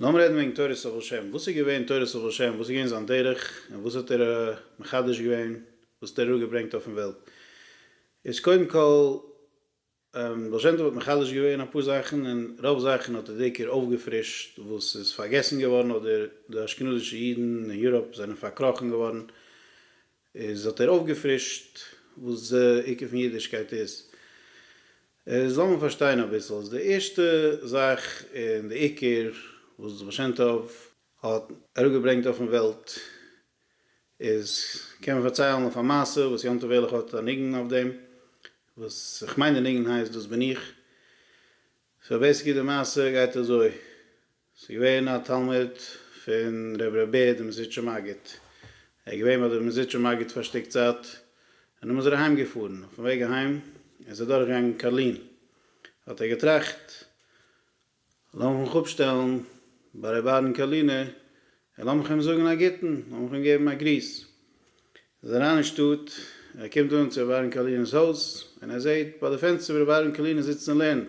לאמיר רעדן וועגן תורת הבל שם, וואס איז געווען תורת הבל שם, וואס איז געווען זיין דרך, און וואס האט ער מחדש געווען, וואס האט ער אראפגעברענגט אויפן וועלט. איז קודם כל, בעל שם טוב האט מחדש געווען אפאר זאכן, און רוב זאכן האט ער דעיקר אויפגעפרישט וואס איז פארגעסן געווארן, אדער די אשכנזישע אידן אין יוראפ זענען פארקראכן געווארן, איז האט ער אויפגעפרישט וואס די עיקר פון אידישקייט איז. איז לאמיר פארשטיין אביסל. איז די ערשטע זאך און די עיקר וואס די בעל שם טוב. האט אראפגעברענגט אויפן וועלט. איז קען מען פארציילן אויף א מעשה וואס יום טוב ערליך האט א ניגון אויף דעם. וואס כ'מיין די ניגון הייסט דאס בין איך. סאו בעיסיקלי די מעשה גייט אזוי. ס'איז געווען א תלמיד פון ר' בער דער מזידשער מגיד. ער איז געווען ביי דער מזידשער מגיד פאר א שטיק צייט, און דעמאלס איז ער אהיים געפארן. אויפן וועג אהיים איז ער דורך געגאנגען קארלין, האט ער געטראכט, לאמיך מיך אפשטעלן ביי ר' אהרן קארלינער, און לאמיך אים זאגן א גוטן, לאמיך אים געבן א גריס. ער איז אריין אין שטאט, ער קומט אן צו ר' אהרן קארלינער'ס הויז, און ער זעט ביי די פענסטער ווי ר' אהרן קארלינער זיצט און לערנט.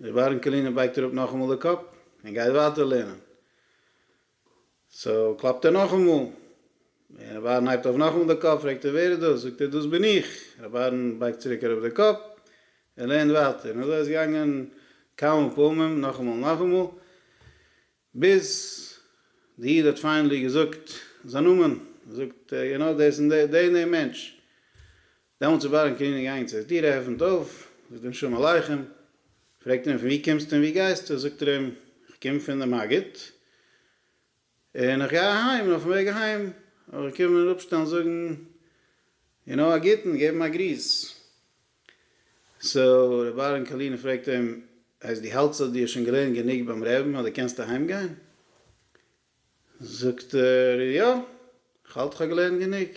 ר' אהרן קאלינער בייגט אראפ נאכאמאל די קאפ און גייט ווייטער לערנען. סאו קלאפט ער נאכאמאל, און ר' אהרן הייבט אויף נאכאמאל די קאפ, פרעגט ער ווער איז דאס? זאגט ער דאס בין איך. ר' אהרן בייגט צוריק אראפ די קאפ און לערנט ווייטער. און אזוי איז געגאנגען כמה פעמים, נאכאמאל נאכאמאל. ביז די איד האט פיינעלי געזאגט זיין נאמען, זאגט ער, גענוי דאס און דער און דער מענטש. דעמאלטס איז בארען קעניג איינגען צו די טיר, ער עפענט אויף, זאגט אים שלום עליכם, פרעגט ער אים פון ווי קומסטו און ווי גייסטו, זאגט ער אים, איך קום פון די מגיד, און איך גיי אהיים, און אויפן וועג אהיים האב איך געקומען אראפשטעלן זאגן גענוי א גוטן, געבן א גריס. סאו רבי אהרן קאלינער פרעגט אים, הייסט דו האלטסט אז דו האסט שוין געלערנט גענוג ביים רעבין אז דו קענסט אהיים גיין? זאגט ער, יא, כ'האלט כ'האב געלערנט גענוג.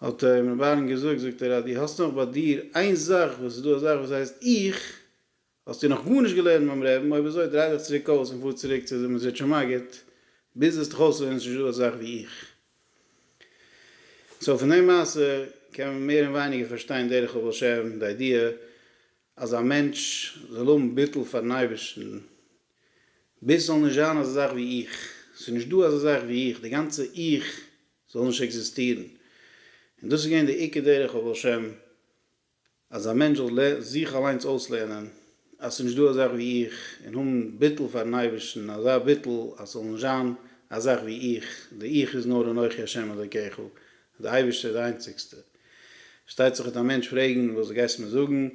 האט אים רבי אהרן געזאגט, זאגט ער, אז דו האסט נאך ביי דיר איין זאך וואס איז דא א זאך וואס הייסט 'איך', האסטו נאך גארנישט געלערנט ביים רעבן, אויב אזוי דריי דיך צוריק אויס און פאר צוריק צו די מזוטשער מגיד, ביז וועסט דיך אויסלערנען ס'נישט דא אזאך ווי איך. סאו פון די מעשה קען מען מער און ווייניגער פארשטיין דרך הבעל שם, די איידיע אז א מענטש זאל האבן ביטול פארן אייבערשטן, ביז ס'זאל נישט זיין אזא זאך ווי איך, ס'נישט דא אזא זאך ווי איך, די גאנצע איך זאל נישט עקזיסטירן, און דאס איז געווען די עיקר דרך הבעל שם. אז א מענטש זאל זיך אליינס אויסלערנען אז ס'איז נישט דא א זאך ווי איך, און האבן ביטול פאר'ן אייבערשטן, אזא ביטול אז ס'זאל נישט זיין א זאך ווי איך, די איך איז נאר אנכי השם אלקיך, אז די אייבערשטער איז די איינציגסטע. פארשטייט זיך וועט א מענטש פרעגן, וואס גייסטו מיר זאגן,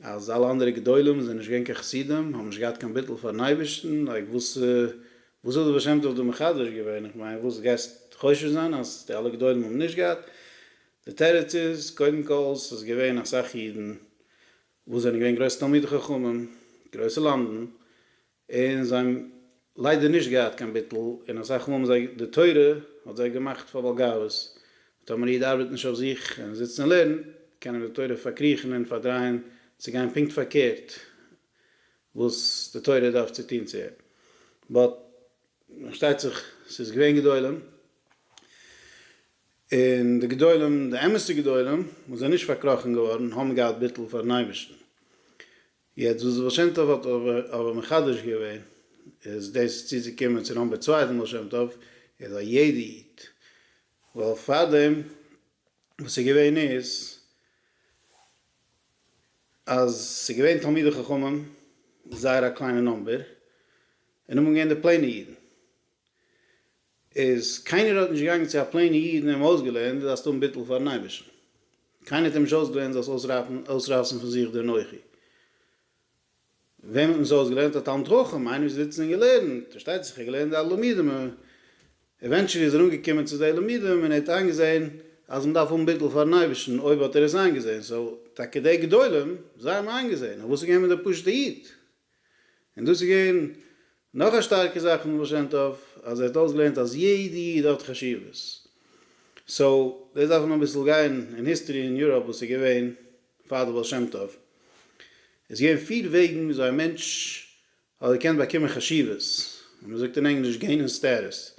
אז אלע אנדערע גדולים זענען נישט געווען קיין חסידים, האבן נישט געהאט קיין ביטול פאר'ן אייבערשטן, לייק וואס וואס האט די בעל שם טוב דא מחדש געווען, איך מיין וואס גייסט חושד זיין אז די אלע גדולים האבן נישט געהאט, די תירוץ איז, קודם כל, ס'איז געווען אסאך אידן וואס זענען געווען גרויסע תלמידי חכמים, גרויסע למדן, און זיי האבן ליידער נישט געהאט קיין ביטול, און אסאך מאל האבן זיי, די תורה האט זיי געמאכט פאר בעל גאוות, טאמער א איד ארבעט נישט אויף זיך און זיצט און לערנט, קען ער די תורה פארקריכן און פארדרייען צו גיין פונקט פארקערט וואס די תורה דארף צו טון צו אים. באט, פארשטייט זיך, ס'איז געווען גדולים. און די גדולים, די אמת'ע גדולים, וואס זענען נישט פארקראכן געווארן, האבן געהאט ביטול פאר'ן אייבערשטן. יעצט וואס בעל שם טוב האט אבער מחדש געווען, איז דאס צו זיך קומען צו נאמבער צוויי פון בעל שם טוב, איז א יעדע איד, ווייל פארדעם וואס איז געווען איז, אז ס'איז געווען תלמידי חכמים, זייער א קליינע נאמבער, און נאכדעם געווען די פלעינע אידן. איז קיינער האט נישט געגאנגען צו א פלעינע איד און אים אויסגעלערנט דו זאלסט האבן ביטול פארן אייבערשטן, קיינער האט אים נישט אויסגעלערנט דו זאלסט אויסרייסן פון זיך די אנוכי, וועמען האט מען עס אויסגעלערנט? א תלמיד חכם, איינער וואס איז זיצן און געלערנט, פארשטייט זיך ער האט געלערנט די אלע לימודים, עווענטשעלי איז ער אנגעקומען צו די לימודים און ער האט איינגעזען אז מען דארף האבן ביטול פארן אייבערשטן, אויב האט ער עס איינגעזען, סאו טאקע די גדולים זיי האבן איינגעזען, אויף וואס איז געקומען דער פשוט'ע איד? און דאס איז געווען נאך א שטארקע זאך פון די בעל שם טוב, אז ער האט אויסגעלערנט אז יעדע איד האט חשיבות. סאו, דאס דארף מען אביסל גיין אין היסטארי אין יוראפ וואס איז געווען פאר די בעל שם טוב. עס איז געווען פיר וועגן ווי אזוי א מענטש האט געקענט באקומען חשיבות, און מען זאגט אין ענגליש געינען סטעטוס.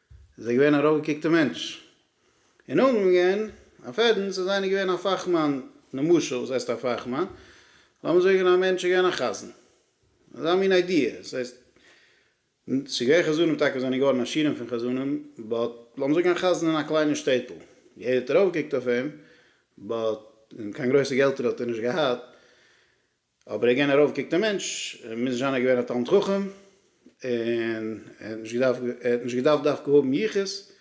איז ער געווען א ארויפגעקוקטער מענטש און אנגעגאנגען אויף עדן צו זיין איז געווען א פאכמאן, נמשל וואס הייסט א פאכמאן? לאמיר זאגען א מענטש איז געווען א חזן, אזא מין איידיע, דאס הייסט ס'איז געווען חזנים טאקע וואס זענען געווארען עשירים פון חזנים, באט לאמיר זאגען א חזן אין א קליינער שטעטל, יעדער האט ארויפגעקוקט אויף אים, באט קיין גרויסע געלטער האט ער נישט געהאט, אבער א גענער אויפגעקטער מענטש מוז נישט זיין ער איז געווען א תלמיד חכם און ער האט נישט געדארפט ער האט נישט געדארפט דווקא האבן יחוס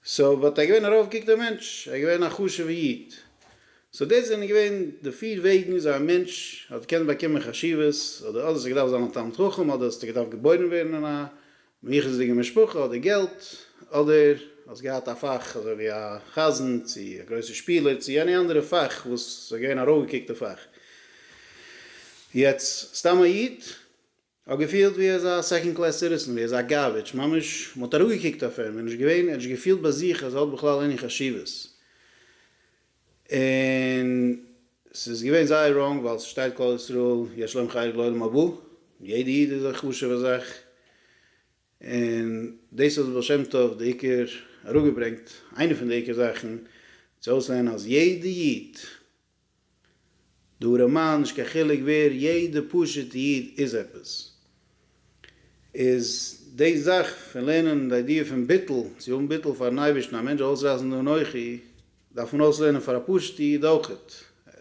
סאו באט ער איז געווען א ארויפגעקטער מענטש ער איז געווען א חשוב'ע איד סאו דאס זענען געווען די פיר וועגן וויאזוי א מענטש האט געקענט באקומען חשיבות אדער אדער האסטו געדארפט זיין א תלמיד חכם אדער האסטו געדארפט געבוירן ווערן אין א אן יחוס'דיגע משפחה אדער געלט, אדער האסט געהאט א פאך אזוי ווי א חזן צו א גרויסע שפילער צו עני אנדערע פאך וואס איז געווען א ארויפגעקוקטע פאך. יעצט סתם א איד האט געפילט ווי ער איז א סעקאנד קלעס סיטיזען, ווי ער איז א גארבידזש, ממש מען האט אראפגעקוקט אויף אים, ער איז נישט געווען, ער האט נישט געפילט ביי זיך אז ער האט בכלל עני חשיבות. און ס'איז געווען זייער ראנג ווייל ס'שטייט כל ישראל יש להם חלק לעולם הבא און יעדע איד איז א חשוב'ע זאך און דאס האט בעל שם טוב די עיקר אראפגעברענגט איינע פון די עיקר זאכן צו אויסלערנען אז יעדע איד די ארעמאן נישט קיין חילוק ווער יעדע פשוטע איד איז עפעס. איז די זאך פון לערנען די איידיע פון ביטול, צו האבן ביטול פארן אייבערשטן, א מענטש זאל אויסרייסן די אנוכי, דארף מען אויסלערנען פאר א פשוט'ע איד אויכעט.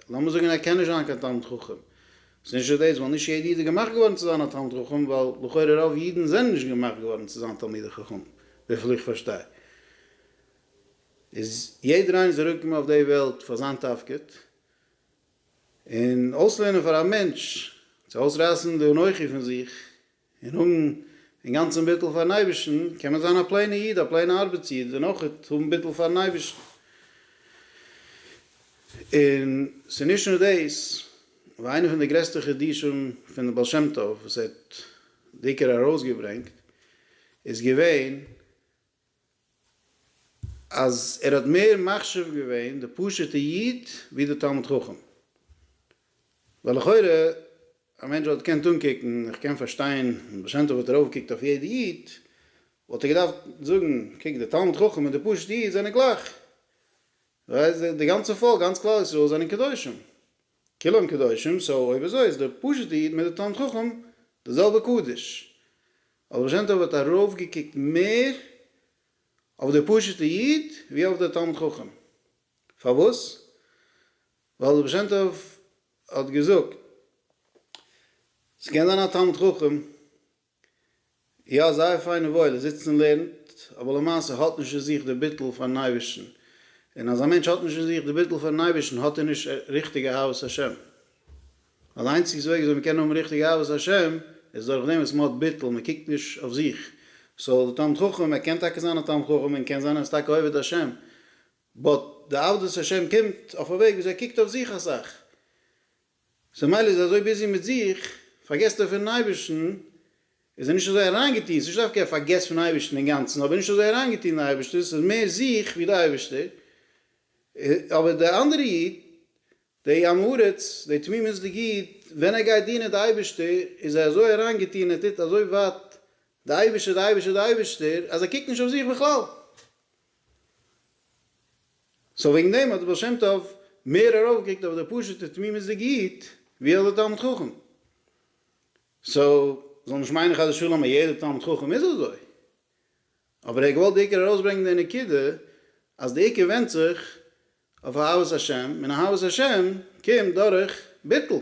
לאמיר זאגן ער קען נישט זיין קיין תלמיד חכם, ס'איז נישט דאס ווייל נישט יעדע איד איז געמאכט געווארן צו זיין א תלמיד חכם, ווייל לכאורה רוב אידן זענען נישט געמאכט געווארן צו זיין תלמידי חכמים, וויפיל איך פארשטיי איז יעדער איינער זאל אראפקומען אויף די וועלט פאר זיין תפקיד. און אויסלערנען פאר א מענטש צו אויסרייסן די אנוכי פון זיך און האבן אינגאנצן ביטול פארן אייבערשטן, קען מען זיין א פלעינע איד, א פלעינע ארבעטס איד, און אויך האבן ביטול פארן אייבערשטן. און ס'איז נישט נאר דאס, ווייל איינע פון די גרעסטע חידושים פונעם בעל שם טוב וואס ער האט די עיקר ארויסגעברענגט איז געווען אז ער האט מער מחשיב געווען די פשוטע איד ווי די תלמיד חכם, ווייל לכאורה א מענטש וואלט געקענט אנקוקן, איך קען פארשטיין אז בעל שם טוב האט ארויפגעקוקט אויף יעדע איד, וואלט ער געדארפט זאגן, קוק די תלמיד חכם און די פשוטע איד זענען גלייך, די גאנצע פאלק, גאנץ כלל ישראל זענען קדושים, כולם קדושים, סאו אויב אזוי איז דער פשוט'ע איד מיט די תלמיד חכם די זעלבע קדוש. ווייל בעל שם טוב האט ארויפגעקוקט מער אויף די פשוט'ע איד ווי אויף די תלמיד חכם. פארוואס? ווייל די בעל שם טוב האט געזאגט, ס'קען זיין א תלמיד חכם, יא זייער פיין און וואויל ער זיצט און לערנט, אבער למעשה האט נישט אין זיך די ביטול פארן אייבערשטן, און אז א מענטש האט נישט אין זיך די ביטול פארן אייבערשטן האט ער נישט ריכטיגע אהבת השם, ווייל די איינציגסטע וועג וויאזוי מען קען האבן ריכטיגע אהבת השם איז דורך דעם וואס מען האט ביטול, מען קוקט נישט אויף זיך, סאו די תלמיד חכם ער קען טאקע זיין א תלמיד חכם און קען זיין ער איז טאקע עובד השם, באט די עבדות השם קומט אויף א וועג וויאזוי ער קוקט אויף זיך אסאך, סאו מילא איז ער אזוי ביזי מיט זיך, פארגעסט ער פונען אייבערשטן, איז ער נישט אזוי אריינגעטון, ס'איז נישט דווקא ער פארגעסט פון אייבערשטן אינגאנצן, אבער נישט אזוי אריינגעטון אין אייבערשטן, ס'איז מער זיך ווי די אייבערשטער, אבער די אנדערע איד, די עם הארץ, די תמימות'דיג איד, ווען ער גייט דינען די אייבערשטער, איז ער אזוי אריינגעטון, ער טוט אזוי ווייט די אייבערשטער, די אייבערשטער, די אייבערשטער, אז ער קוקט נישט אויף זיך בכלל. סאו וועגן דעם האט דער בעל שם טוב מער ארויפגעקוקט אויף דער פשוט'ער תמימות'דיגע איד ווי אויף דער תלמיד חכם. סאו זאל נישט מיינען חס ושלום אז יעדער תלמיד חכם איז אזוי. אבער ער האט געוואלט בעיקר ארויסברענגען די נקודה אז דער עיקר ווענדט זיך אויף אהבת השם, און אהבת השם קומט דורך ביטול.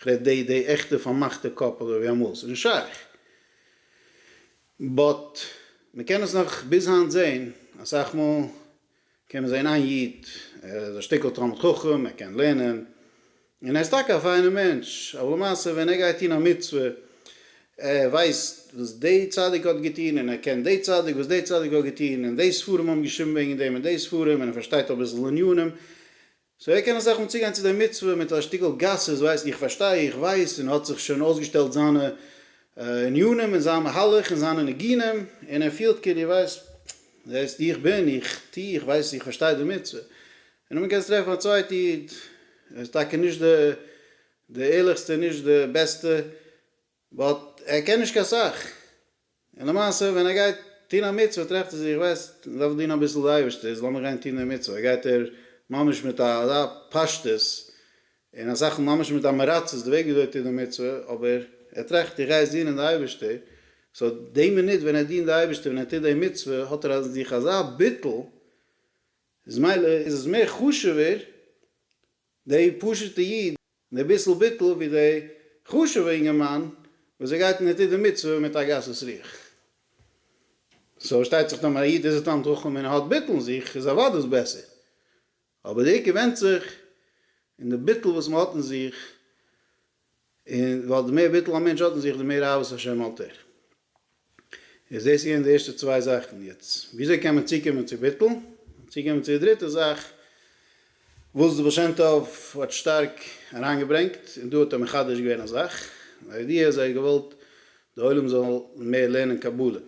כ'רעד די די עכטע פארמאכטע קאפעלע ווי אמאל, ס'איז נישט שייך. באט מ'קען עס נאך ביז היינט זעהן, אסאך מאל קען מען זעהן איין איד, ער איז א שטיקל תלמיד חכם, ער קען לערנען, און ער איז טאקע א פיינע מענטש, אבער למעשה ווען ער גייט טון א מצוה, ער ווייסט וואס די צדיק האט געטון, און ער קען די צדיק וואס די צדיק האט געטון, און די ספרים האבן געשריבן וועגן דעם און די ספרים, און ער פארשטייט אביסל ענינים, סאו ער קען אסאך מאל צוגיין צו די מצוה מיט א שטיקל גסות ווייס איך פארשטיי איך ווייס און האט זיך שוין אויסגעשטעלט זיינע ענינים און זיין מהלך און זיינע ניגונים און ער פילט כאילו ווייסט זעסט איך בין איך טוה איך ווייס איך פארשטיי די מצוה און אמאל קענסטו טרעפן א צווייטע איד ער איז טאקע נישט די ערליכסטע נישט די בעסטע באט ער קען נישט קיין סאך, און למעשה ווען ער גייט טון א מצוה טרעפט ער זיך איך ווייס איך דארף דינען אביסל די אייבערשטער איז לאמיר גיין טון די מצוה גייט ער ממש מיט אזא פשטות און אסאך מאל ממש מיט אמעראצעס די וועג וויאזוי ער טוט די מצוה אבער ער טראכט איך גיי יעצט דינען די אייבערשטער סאו די מינוט ווען ער דינט די אייבערשטער ווען ער טוט די מצוה האט ער אין זיך אזא ביטול איז מילא איז עס מער חשוב'ער די פשוטע איד. און דער ביסל ביטול ווי דער חשוב'ער אינגערמאן וואס ער גייט און ער טוט די מצוה מיט א גסות רוח. סאו פארשטייט זיך טאמער א איד איז א תלמיד חכם און ער האט ביטול אין זיך איז אוודאי דאס בעסער. אבער די עיקר ווענדט זיך אין די ביטול וואס מ'האט אין זיך, און ווייל די מער ביטול א מענטש האט אין זיך די מער אהבת השם האט ער. איז דאס געווען די ערשטע צוויי זאכן, יעצט וויאזוי קען מען צוקומען צו ביטול, צוקומען צו די דריטע זאך וואס די בעל שם טוב האט שטארק אריינגעברענגט, און דא האט ער מחדש געווען א זאך, די איידיע איז ער האט געוואלט די עולם זאל מער לערנען קבלה,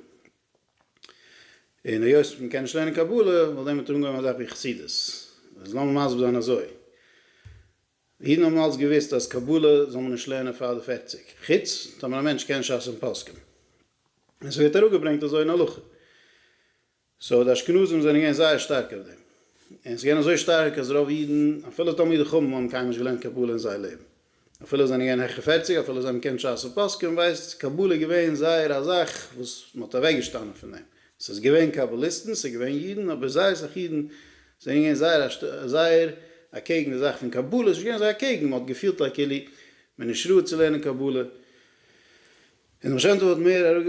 און היות מען קען נישט לערנען קבלה, וואלט ער דערמיט אנגעהויבן א זאך ווי חסידות, אז לאמיר מסביר זיין אזוי. אידן האבן אלץ געוואוסט אז קבלה זאל מען נישט לערנען פאר די פערציג, חוץ טאמער א מענטש קען שס און פסקים, און עס ווערט אראפגעברענגט אזוי אין הלכה. סאו די אשכנזים זענען געווען זייער שטארק אויף דעם, און עס איז געווען אזוי שטארק אז רוב אידן, אפילו תלמידי חכמים, האבן קיינמאל נישט געלערנט קבלה אין זייער לעבן, אפילו זיי זענען געווען העכער פערציג, אפילו זיי האבן געקענט שס און פסקים, ווייל קבלה איז געווען זייער א זאך וואס מען האט אוועקגעשטאנען פון דעם, ס'איז געווען קאבאליסטן, ס'איז געווען אידן, אבער זייער סאך אידן זענען געווען זייער א זייער אקעגן די זאך פון קבלה, ס'איז נישט געווען זיי אקעגן, מ'האט געפילט א כאילו מ'איז נישט ראוי צו לערנען קבלה, און דער בעל שם טוב האט מער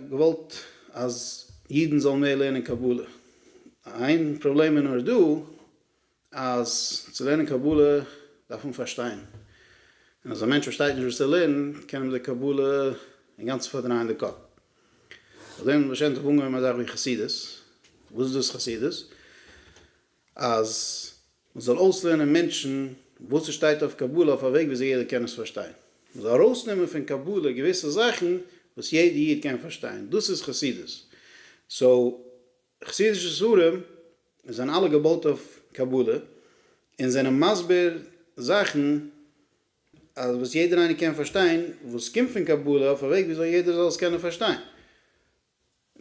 געוואלט אז אידן זאלן מער לערנען קבלה. איין פראבלעם איז נאר דא, אז צו לערנען קבלה דארף מען פארשטיין, און אז א מענטש פארשטייט נישט וואס ער לערנט קען אים די קבלה אינגאנצן פארדרייען די קאפ. אויף דעם האט בעל שם טוב אנגעהויבן א זאך ווי חסידות, וואס איז דאס חסידות? אז מען זאל אויסלערנען מענטשן וואס עס שטייט אויף קבלה אויף א וועג וויאזוי יעדער קען עס פארשטיין, מען זאל ארויסנעמען פון קבלה געוויסע זאכן וואס יעדער איד קען פארשטיין, דאס איז חסידות. סאו. חסידישע ספרים זענען אלע געבויט אויף קבלה און זענען מסביר זאכן אז וואס יעדער איינער קען פארשטיין וואס קומט פון קבלה אויף א וועג ווי אזוי יעדער זאל עס קענען פארשטיין.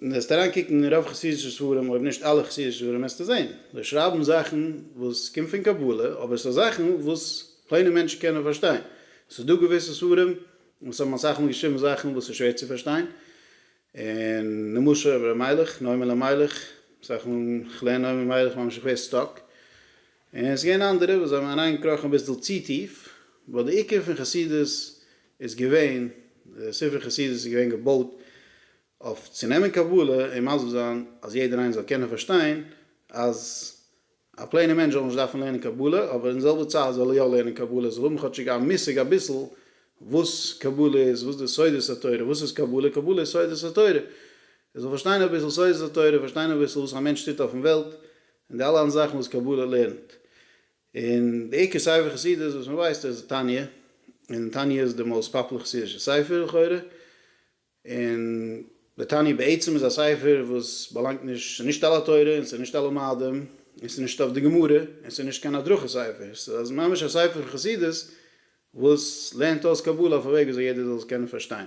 וועסטו אריין קוקן אין רוב חסידישע ספרים אויב נישט אלע חסידישע ספרים וועסטו זען זיי שרייבן זאכן וואס קומט פון קבלה אבער ס'איז זאכן וואס פלעינע מענטשן קענען פארשטיין. ס'איז דא געוויסע ספרים וואס האבן אסאך מאל געשריבן זאכן וואס איז שווער צו פארשטיין און נמשה אויף ר' מיילעך, נעים אלימלך, סך מאל כ'לערן נעים אלימלך ממש איך ווער סטאק, און עס געווען אנדערע וואס זיי האבן אריין געקראכן אביסל צו טיף, ווייל די עיקר פון חסידות איז געווען, די ספר חסידות איז געווען געבויט אויף צו נעמען קבלה און מסביר זיין אז יעדער איינער זאל קענען פארשטיין אז א פלעינע מענטש זאל נישט דארפן לערנען קבלה, אבער אין זעלבע צייט זאל ער יא לערנען קבלה, זאל האבן כאטשיג א מושג אביסל וואס קבלה איז, וואס די סודות התורה, וואס איז קבלה, קבלה איז סודות התורה, ער זאל פארשטיין אביסל סודות התורה, פארשטיין אביסל וואס א מענטש טוט אויפן וועלט, און די אלע אנדערע זאכן וואס קבלה לערנט. און די עיקר ספר חסידות וואס מען ווייסט איז תניא, און תניא איז די מאוסט פאפולער חסידישע ספר לכאורה, און לתניא בעצם איז א ספר וואס באלאנגט נישט, ס'איז נישט על התורה און ס'איז נישט על המאדים און ס'איז נישט אויף די גמרא און ס'איז נישט קיין הדרכה ספר, ס'איז ממש א ספר פון חסידות וואס לערנט אויס קבלה אויף א וועג וויאזוי יעדער זאל עס קענען פארשטיין.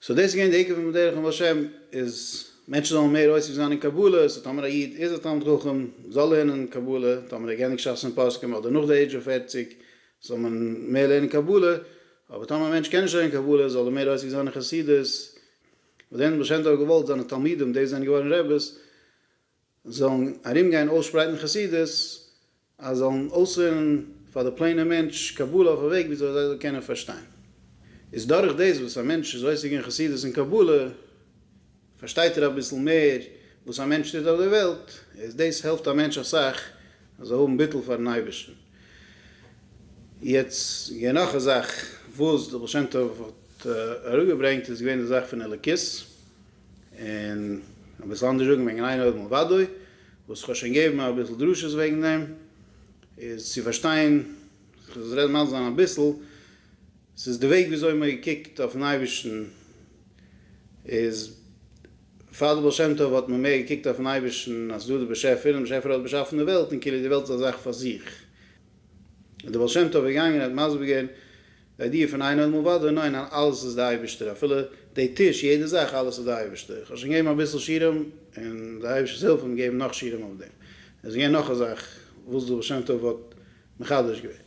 סאו דאס איז געווען די עיקר פון בדרך עם השם איז מענטשן זאלן מער עוסק זיין אין קבלה, סאו טאמער א איד איז א תלמיד חכם זאל לערנען קבלה, טאמער ער גענדיגט שס און פוסקים אדער נאך די עידזש אוו פֿערציק זאל מען מער לערנען קבלה, אבער טאמער א מענטש קען נישט לערנען קבלה זאל ער מער עוסק זיין אין חסידות, וואס דען האט בעל שם טוב געוואלט? זיינע תלמידים, די וואס זענען געווארן רעבעס, זאלן ארום גיין אויסשפרייטן חסידות, אז זאלן אויסלערנען פאר די פלעינע מענטש קבלה אויף א וועג ווי אזוי זיי זאלן קענען פארשטיין. איז דורך דאס וואס א מענטש איז עוסק אין חסידות און קבלה, פארשטייט ער אביסל מער וואס א מענטש טוט אויף דער וועלט, איז דאס העלפט א מענטש אסאך ער זאל האבן ביטול פארן אייבערשטן. יעצט געווען נאך א זאך וואס דער בעל שם טוב האט אראפגעברענגט איז געווען די זאך פון אלוקית, און אביסל אנדערש זאגן וועגן אין עוד מלבדו, וואס כ'האב שוין געבן אביסל דרשות וועגן דעם, איז צו פארשטיין, כ'וועל רעדן ממש זיין אביסל, ס'איז די וועג וויאזוי מען קוקט אויפן אייבערשטן, איז פאר די בעל שם טוב האט מען מער געקוקט אויפן אייבערשטן אז ס'איז דא די באשעפער און די באשעפער האט באשאפן די וועלט און כאילו די וועלט איז א זאך פאר זיך, איז די בעל שם טוב געגאנגען האט מסביר געווען די איידיע פון אין האדם ובדו, ניין ניין אלעס איז די אייבערשטער אפילו די טיש יעדע זאך אלעס איז די אייבערשטער, איך האב שוין געגעבן אביסל שיעורים און די אייבערשטער'ס הילף האט מיר געגעבן נאך שיעורים אויף דעם, עס איז געווען נאך א זאך וואס די בעל שם טוב האט מחדש געווען.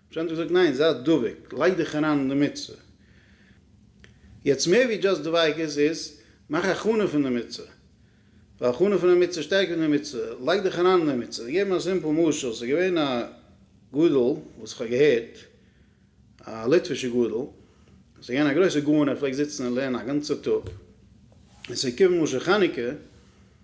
זיי האבן געזאגט ניין זיי דבוק, לייג דיך אריין אין די מצוה. יעצט מער ווי דזשאסט דביקות איז מאך הכנה פון די מצוה, ווייל הכנה פון א מצוה שטערקער די מצוה, לייג דיך אריין אין די מצוה. איך געב אן א סימפל משל, ס'איז געווען א גדול וואס איך האב געהערט, א ליטווישע גדול, ס'איז געווען א גרויסע גאון ער פלעגט זיצן און לערנען א גאנצע טאג, און ס'איז געקומען משא חנוכה,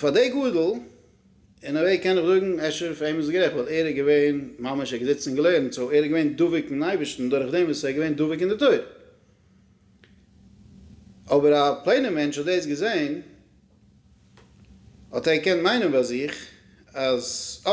פאר דעי גאדעל, אין א וועי קען איך זאגן אפשר פאר אים איז עס גערעכט ווייל ער איז געווען ממש ער האט געזיצן און געלערנט סאו ער איז געווען דבוק אין אייבערשטן דורך דעם וואס ער איז געווען דבוק אין די תורה. אבער א פלעינע מענטש האט דאס געזען האט ער געקענט מיינען ביי זיך אז אה.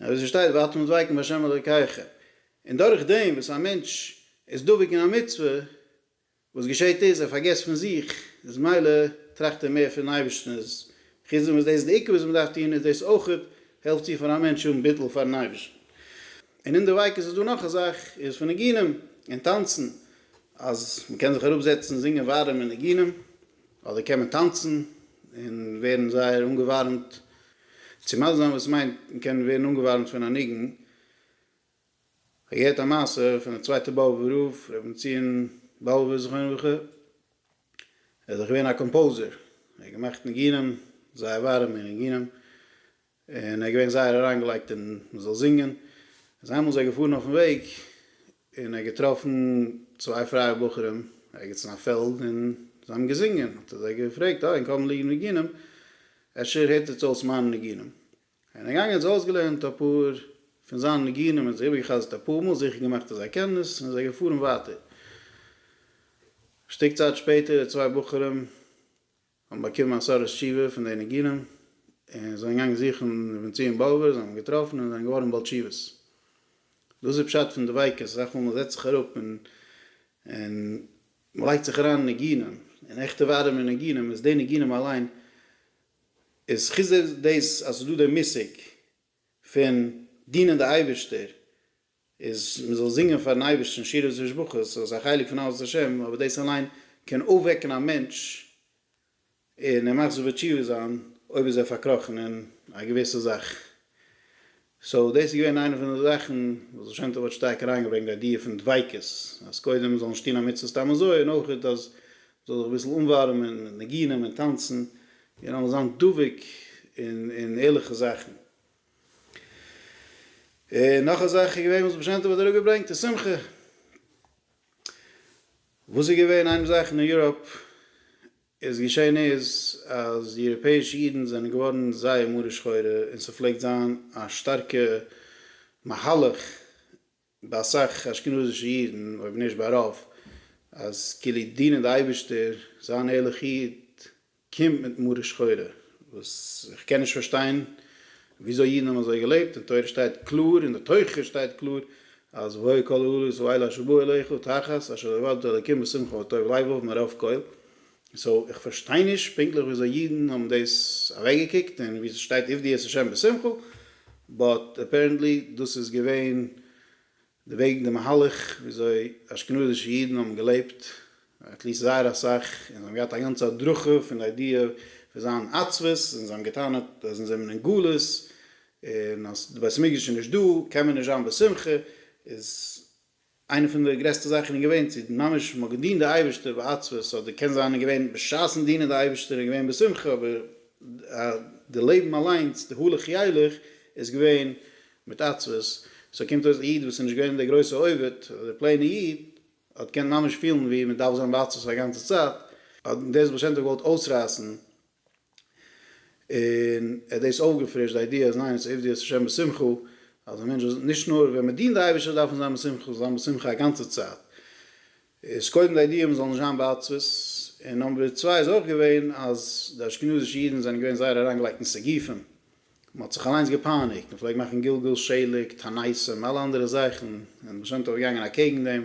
און ווי ס'שטייט ואתם דבקים בה' אלוקיכם, און דורך דעם וואס א מענטש איז דבוק אין א מצוה, וואס געשעט איז, ער פארגעסט פון זיך, איז מילא טראכט ער מער פונעם אייבערשטן, איז חוץ דעם וואס דאס איז די עיקר וואס מ'דארף טון, איז דאס אויך העלפט צו פאר א מענטש האבן ביטול פאר'ן אייבערשטן. און אין דביקות איז דא נאך א זאך, איז פון ניגונים און טאנצן, אז מ'קען זיך אראפזעצן זינגען ווארעמע ניגונים, אדער קען מען טאנצן און ווערן זייער אנגעווארעמט צו מזמין וואס מיינט מען קען ווערן אנגעווארעמט פון א ניגון. כ'האב געהערט א מעשה פון די צווייטע באבובער רב, ר' בנציון באבובער זכרונו לברכה, ער איז דאך געווען א קאמפאוזער, ער האט געמאכט ניגונים, זייער ווארעמע ניגונים, און ער איז געווען זייער אריינגעלייגט אין מען זאל זינגען, איז איינמאל איז ער געפארן אויפן וועג און ער האט געטראפן צוויי פרייע בחורים ערגעץ אין א פעלד און זיי האבן געזינגען, האט ער זיי געפרעגט אה אין קאמען ליגן ניגונים אפשר הערט איר צו אויס מיינע ניגונים, און ער איז געגאנגען האט זיי אויסגעלערנט אפאר פון זיינע ניגונים און זיי איבערגעחזרט אפאר מאל זיכער געמאכט אז זיי קענען עס און עס איז געפארן ווייטער, א שטיק צייט שפעטער די צוויי בחורים האבן באקומען א סארט תשובה פון די ניגונים, און זענען געגאנגען זוכן רבי בנציון באבעווער, זיי האבן אים געטראפן און זענען געווארן בעל תשובות. דאס איז פשט פון דביקות, אסאך מאל מ'זעצט זיך אראפ און און מ'לייגט זיך אריין אין ניגונים, און עכטע ווארימע ניגונים, איז די ניגונים אליין איז חוץ דאס אז ס'איז דא די מושג פון דינען די אייבערשטער איז מען זאל זינגען פארן אייבערשטן שירות ושבחו, ס'איז אויך א חלק פון אהבת השם, אבער דאס אליין קען אויפוועקן א מענטש און ער מאכט זיך בתשובה זיין אויב איז ער פארקראכן אין א געוויסע זאך. סאו דאס איז געווען איינע פון די זאכן וואס בעל שם טוב האט שטארק אריינגעברענגט די איידיע פון דביקות, אז קודם זאל נישט טון א מצוה סתם אזוי, און אויך אז מ'זאל זיך אביסל אנווארעמען מיט ניגונים און טאנצן, און זאל מען זיין דבוק אין ערליכע זאכן. און נאך א זאך איז געווען וואס בעשען טוב האט אראפגעברענגט אין שמחה וואס איז געווען איין זאך אין יוראפ איז געשען איז אז די יוראפעישע אידן זענען געווארן זייער מרה שחורה און ס'פלעגט זיין א שטארקע מהלך ביי אסאך אשכנזישע אידן, אויב נישט ביי רוב, אז כאילו דינען די אייבערשטער, זיין ערליך איד, קומט מיט מרה שחורה, וואס איך קען נישט פארשטיין וויאזוי אידן האבן אזוי געלעבט, אין תורה שטייט קלאר, אין די תוכחה שטייט קלאר, אז והוי כל העליות האלה אשר באו אליך תחת אשר לא יבדל אלוקים בשמחה וטוב לבב מרוב כל. סאו איך פארשטיי נישט פונקטליך וויאזוי אידן האבן דאס אוועקגעקוקט און ווי ס'שטייט עבדי את השם בשמחה באט אפערענטלי דאס איז געווען די וועג די מהלך וויאזוי אשכנזישע אידן האבן געלעבט עטליסט זייער אסאך און זיי האבן געהאט א גאנצע הדרכה פון די איידיע פון זיין עצבות און זיי האבן געטענה'ט אז אונז זעמער אין גלות און אז די בית המקדש איז נישט דא קען מען נישט זיין בשמחה איז איינע פון די גרעסטע זאכן איז געווען צו ממש מ'האט געדינט די אייבערשטער בעצבות אדער קען זיין איז געווען בשעת'ן דינען די אייבערשטער איז געווען בשמחה אבער די לעבן אליינס די הלך ילך איז געווען מיט עצבות סאו קומט אויס א איד וואס איז נישט געווען דער גרויסע עובד אדער פלעינע איד האט געקענט ממש פילן ווי מ'דארף זיין בעצבות א גאנצע צייט האט דאס בעל שם טוב געוואלט אויסרייסן און ער האט דאס אויפגעפרישט די איידיע אז ניין עס איז עובדות השם בשמחה, אז א מענטש זאל נישט נאר ווען מען דינט די אייבערשטער דארף מען זיין בשמחה, זיין בשמחה א גאנצע צייט, איז קודם די איידיע מען זאל נישט זיין בעצבות, און נאמבער צוויי איז אויך געווען אז די אשכנזישע אידן זענען געווען זייער אריינגעלייגט אין סיגופים, מען האט זיך אליינס געפייניגט, מען פלעגט מאכן גלגול שליג, תנאים, אלע אנדערע זאכן, און די בעל שם טוב איז געגאנגען אקעגן דעם,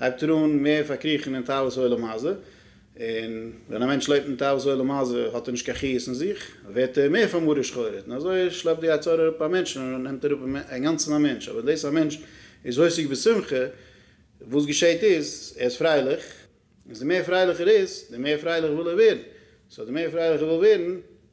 הייבט ער אן מער פארקריכן אין תאוות עולם הזה, און ווען א מענטש לעבט אין תאוות עולם הזה האט ער נישט קיין חיות אין זיך, ווערט ער מער פאר מרה שחורית, און אזוי שלעפט די יצר הרע אראפ א מענטש און נעמט אראפ אינגאנצן א מענטש, אבער דאס א מענטש איז עוסק בשמחה, וואס געשעהט איז, ער איז פרייליך, איז די מער פרייליך ער איז, די מער פרייליך וויל ער ווערן, סאו די מער פרייליך ער וויל ווערן,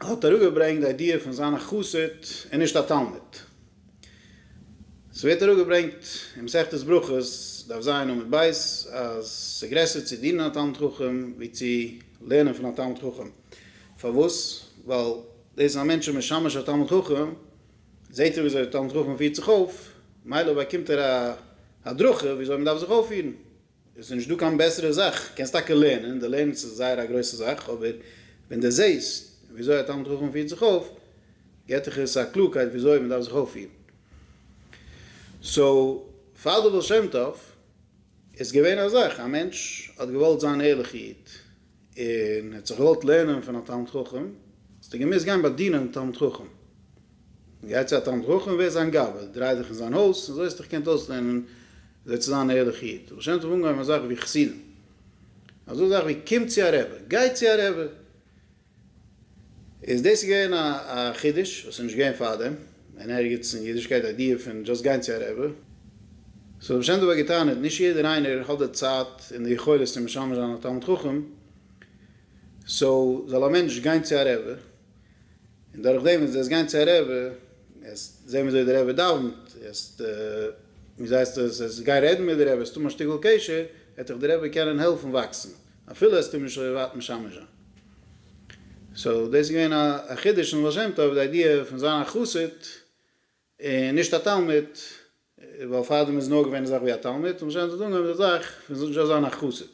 האט אראפגעברענגט די איידיע פון זיין א חסיד און נישט א תלמיד. ס'ווערט אראפגעברענגט אין מסכת ברכות, דף ז עמוד ב', אז ס'גרעסער צו דינען א תלמיד חכם ווי צו לערנען פון א תלמיד חכם. פארוואס? ווייל דאס אז א מענטש איז משמש א תלמיד חכם, זעט ער ווי אזוי א תלמיד חכם פירט זיך אויף, מילא באקומט ער א הדרכה ווי אזוי מ'דארף זיך אויפפירן. עס איז נישט דא קיין בעסערע זאך, קענסט טאקע לערנען, די לערנען איז זייער א גרויסע זאך, אבער ווען די זעהסט ווי אזוי א תלמיד חכם פירט זיך אויף, געט דיך עס א קלארקייט ווי אזוי מען דארף זיך אויפפירן. סאו פאר די בעל שם טוב איז געווען א זאך, א מענטש האט געוואלט זיין ערליכע איד, און ער האט זיך געוואלט לערנען פון א תלמיד חכם, האסט דו געמוזט גיין באדינען דעם תלמיד חכם. גיי צו א תלמיד חכם און ווער זיין גאב ד, דריי דיך אין זיין הויז, און אזוי האסטו דיך געקענט אויסלערנען אזוי צו זיין א ערליכע איד. הבעל שם טוב אנגעהויבן א זאך ווי חסידים, אזא זאך ווי קום צו א רבי, גיי צו א רבי, איז דאס געווען א חידוש וואס איז נישט געווען פארדעם אין ערגעץ אין אידישקייט די איידיע פון דזשאסט גיין צו א רבי. סאו האט בשם דבר געטענה'ט נישט יעדער איינער האט די צייט און די יכולת צו משמש זיין א תלמיד חכם סאו זאל א מענטש גיין צו א רבי און דורכדעם וועסטו וועסט גיין צו א רבי וועסט זען ווי אזוי די רבי דאווענט וועסט ווי זייסט עס וועסט גיין רעדן מיט די רבי וועסט האבן א שטיקל קשר וועט דיך די רבי קענען העלפן וואקסן אפילו וועסטו אים נישט אזוי ווייט משמש זיין. סאו דאס איז געווען א חידוש אין בעל שם טוב די איידיע פון זיין א חסיד און נישט א תלמיד, ווייל פארדעם איז נאר געווען די זאך ווי א תלמיד, און בעל שם טוב האט אנגעהויבן די זאך פון זשאסט זיין א חסיד.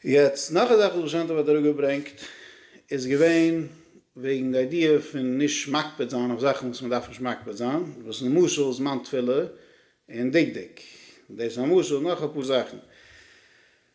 יעצט נאך א זאך וואס בעל שם טוב האט אראפגעברענגט איז געווען וועגן די איידיע פון נישט מקפיד זיין אויף זאכן וואס מען דארף נישט מקפיד זיין, וואס למשל זמן תפילה און דקדוק, דאס איז א משל, נאך אפאר זאכן.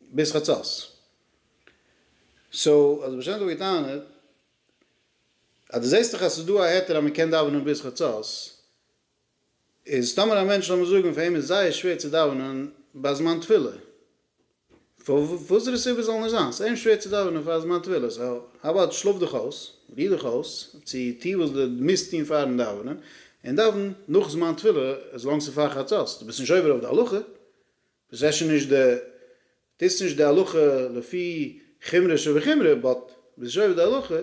ביז חצות. סאו האט די בעש ט אבער געטענה'ט אז דו זעסט דאך אז ס'איז דא א היתר אז מ'קען דאווענען ביז חצות, איז טאמער א מענטש לאמיר זאגן פאר אים איז זייער שווער צו דאווענען ביי זמן תפילה, וואסערע סיבה זאל נישט זיין, ס'איז אים שווער צו דאווענען פאר זמן תפילה, סאו האו אבאוט שלאף דיך אויס, ריר דיך אויס, צו טו וואס דו מוזט טון פארן דאווענען, און דאווען נאך זמן תפילה, עס לאנג ס'איז פאר חצות, דו ביסט נישט עובר אויף די הלכה, וואס אפשר נישט די טוסט נישט די הלכה לפי חומרא שבחומרא באט ביסט שובע די הלכה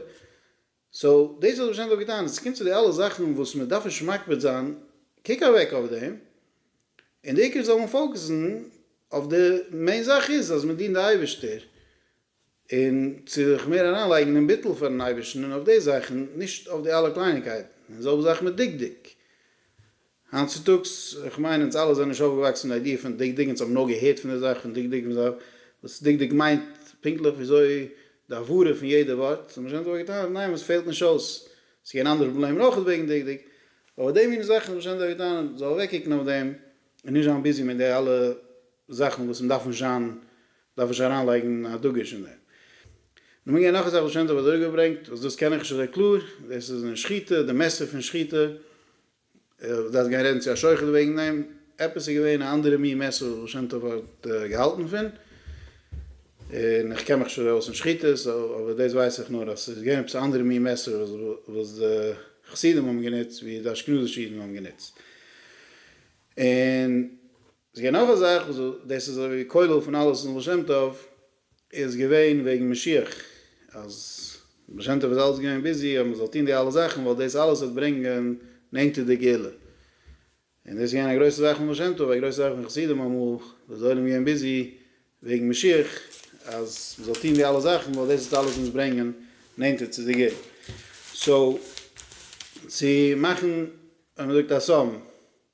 סאו דאס וואלט איך ווארשיינדליך אויך געטאן, סקומט צו די אלע זאכן וואס מען דארף נישט מקפיד זיין קוק אוועק אויף דעם און די עיקר זאל מען פאוקעסן אויף די מעין זאך איז אז מען דינט די אייבערשטער און צו זיך מער אריינלייגן אין ביטול פארן אייבערשטן און אויף די זאכן, נישט אויף די אלע קלייניגקייטן, און זעלבע זאך מיט דקדוק. היינט צוטאגס, איך מיין אונז אלע זענען נישט אויפגעוואקסן מיט די איידיע פון דקדוק, אונז האבן נאר געהערט פון די זאך פון דקדוק, אונז ווייסן וואס דקדוק מיינט פונקטליך וויאזוי די הברה פון יעדע ווארט, האבן מיר שוין אונז אבער געטענהט, ניין וואס פעלט נישט אויס, ס'איז געווען אנדערע פראבלעמען אויך וועגן דקדוק, אבער די מינע זאכן האבן מיר שוין אונז אבער געטענהט, זאל אוועקקוקן אויף דעם, און נישט זיין ביזי מיט די אלע זאכן וואס מ'דארף נישט זיין דארף איך שוין אריינלייגן א דגוש אין דעם. נו מ'גייט נאך א זאך וואס שוין דא אדורכגעברענגט, וואס דאס קען איך נישט אזוי קלאר, דאס איז אין שחיטה, די מעסער פון שחיטה, איך דארף גיין רעדן צו א שוחט וועגן דעם, עפעס איז געווען א אנדערע מין מעסער וואס שוין טוב האט געהאלטן פון, און איך קען מיך שוין אויס אין שחיטה, סאו אבער דאס ווייס איך נאר אז ס'איז געווען עפעס א אנדערע מין מעסער וואס די חסידים האבן גענוצט ווי די אשכנזישע אידן האבן גענוצט, און. עס איז געווען נאך א זאך וואס דאס איז אזויווי כולל פון אלעס אין בעל שם טוב איז געווען וועגן משיח אז בעל שם טוב איז אלץ געווען ביזי אז מען זאל טון די אלע זאכן ווייל דאס אלעס וועט ברענגען נענטער די גאולה און דאס איז געווען א גרויסע זאך פון בעל שם טוב א גרויסע זאך פון חסידים אמאל וואס די עולם איז געווען ביזי וועגן משיח אז מען זאל טון די אלע זאכן ווייל דאס וועט אלעס אונז ברענגען נענטער צו די גאולה סאו צו מאכן ווען מען זאגט א סמ.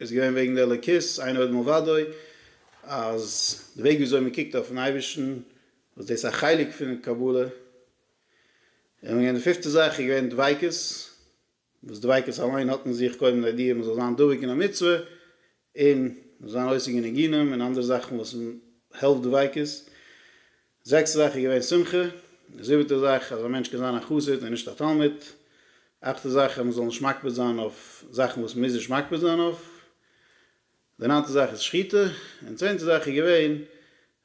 איז געווען וועגן די אלוקית, עיין עוד מלבדו, אז די וועג וויאזוי מען קוקט אויפן אייבערשטן, וואס דאס איז א חלק פון קבלה, און די פיפטע זאך איז געווען דביקות, וואס דביקות אליין האט אין זיך קודם לידיעה מען זאל זיין דבוק אין א מצוה, און זיין עוסק אין ניגונים און אנדערע זאכן וואס העלפט דביקות. זעקסטע זאך איז געווען שמחה. זיבעטע זאך אז א מענטש קען זיין א חסיד און נישט א תלמיד. אכטע זאך אז מ'זאל נישט מקפיד זיין אויף זאכן וואס מ'מוז נישט מקפיד זיין אויף. די ניינטע זאך איז שחיטה. און צענטע זאך איז געווען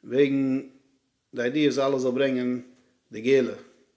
וועגן די איידיע אז אלעס זאל ברענגען די גאולה.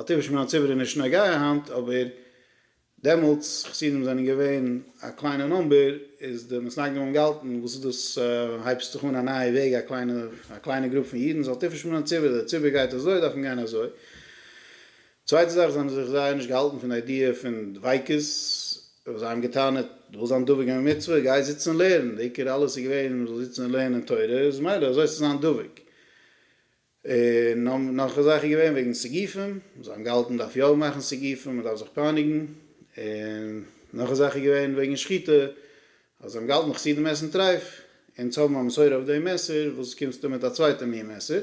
א טבע שמירת ציבור איז נישט נוגע היינט, אבער דעמאלטס, חסידים זענען געווען א קליינע נומבער, איז די מסנגדים האבן געהאלטן, וואס איז דאס, הייבסט זיך אן א נייע וועג, א קליינע, א קליינע גרופ פון אידן זאל טפל שמירת ציבור, דער ציבור גייט אזוי, דארף מען גיין אזוי. צווייטע זאך, זיי האבן זיך זייער נישט געהאלטן פון די איידיע פון דביקות, וואס זיי האבן גע'טענה'ט, דו ווילסט זיין דבוק אין א מצוה, גיי זיץ און לערן, די עיקר אלעס איז געווען, מען זאל זיצן און לערנען תורה, איז מילא, אזוי האסטו זיין דבוק. און נאך א זאך איז געווען וועגן סיגופים, זיי האבן געהאלטן מ'דארף יא מאכן סיגופים, מ'דארף זיך פייניגן, און נאך א זאך איז געווען וועגן שחיטה, אז זיי האבן געהאלטן חסידים עסן טרייף, אונז האבן א מסורה אויף דעם מעשר, וואס קומסטו מיט א צווייטע מין מעשר?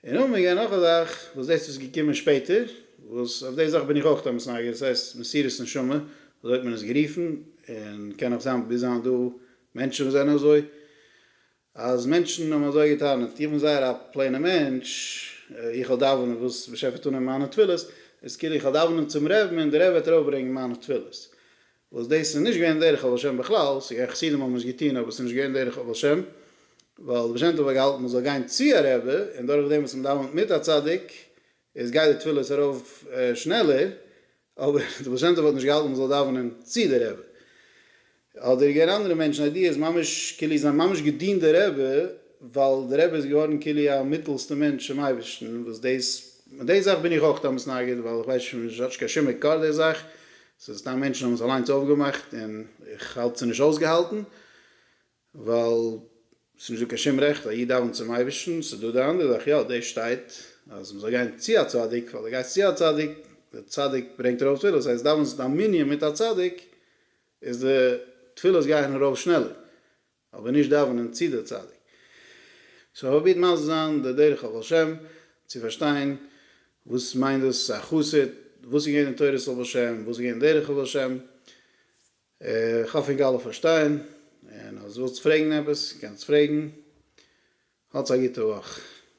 און און מ'געווען נאך א זאך, וואס דאס איז געקומען שפעטער, וואס אויף די זאך בין איך אויך עפעס נייגעריג, דאס הייסט מסירות נשמה, אזוי האט מען עס גערופן, און קען נאך זיין ביז היינט דא מענטשן וואס זענען אזוי, אז מענטשן האבן אזוי געטענה'ט, איך בין זייער א פלעינע מענטש, איך וועל דאווענען וואס באשעפער וועט אננעמען מיינע תפילות, איז כאילו איך וועל דאווענען צום רעבן און דער רבי וועט ארויפברענגען מיינע תפילות. וואס דאס איז נישט געווען דרך אב השם בכלל, ס'געווען חסידים האבן עס געטון אבער ס'נישט געווען דרך אב השם, ווייל דער בעל שם טוב האט געהאלטן מ'זאל גיין צו א רבי, און דורכדעם וואס מ'דאווענט מיט א צדיק איז גייט די תפילות ארויף שנעלער, אבער די בעל שם טוב האט נישט געהאלטן מען זאל דאווענען צו די רבי, האט דער געגעבן אנדערע מענטשן איידיעס, ממש כאילו זיי האבן ממש געדינט די רבי, ווייל די רבי איז געווארן כאילו א מיטעלסטע מענטש צום אייבערשטן, וואס דאס, מיט די זאך בין איך אויך דאמאלס נגד, ווייל איך ווייס נישט, האט נישט קיין שום מקור די זאך, ס'איז סתם מענטשן האבן עס אליינס אויפגעמאכט, און איך האלט ס'איז נישט אויסגעהאלטן, ווייל ס'איז נישט דא קיין שום רעכט א איד דאווענט צום אייבערשטן, ס'איז דא די אנדערע זאך יא, דאס שטייט אז מ'זאל גיין צו א צדיק, ווייל די גייסט צו א צדיק, די צדיק ברענגט ארויף תפילות, אויב דאווענסט דיין מנין מיט א צדיק איז די תפילות גייען ארויף שנעלער, אבער נישט דאווענען צו די צדיק. סאו פראבירט מסביר זיין די דרך הבעל שם צו פארשטיין וואס מיינט דאס א חסיד, וואס איז געווען אין תורת הבעל שם, וואס איז געווען אין דרך הבעל שם, איך האף איר גייט פארשטיין, און אז ווילסט פרעגן עפעס קענסט פרעגן, האטס א גוטע וואך.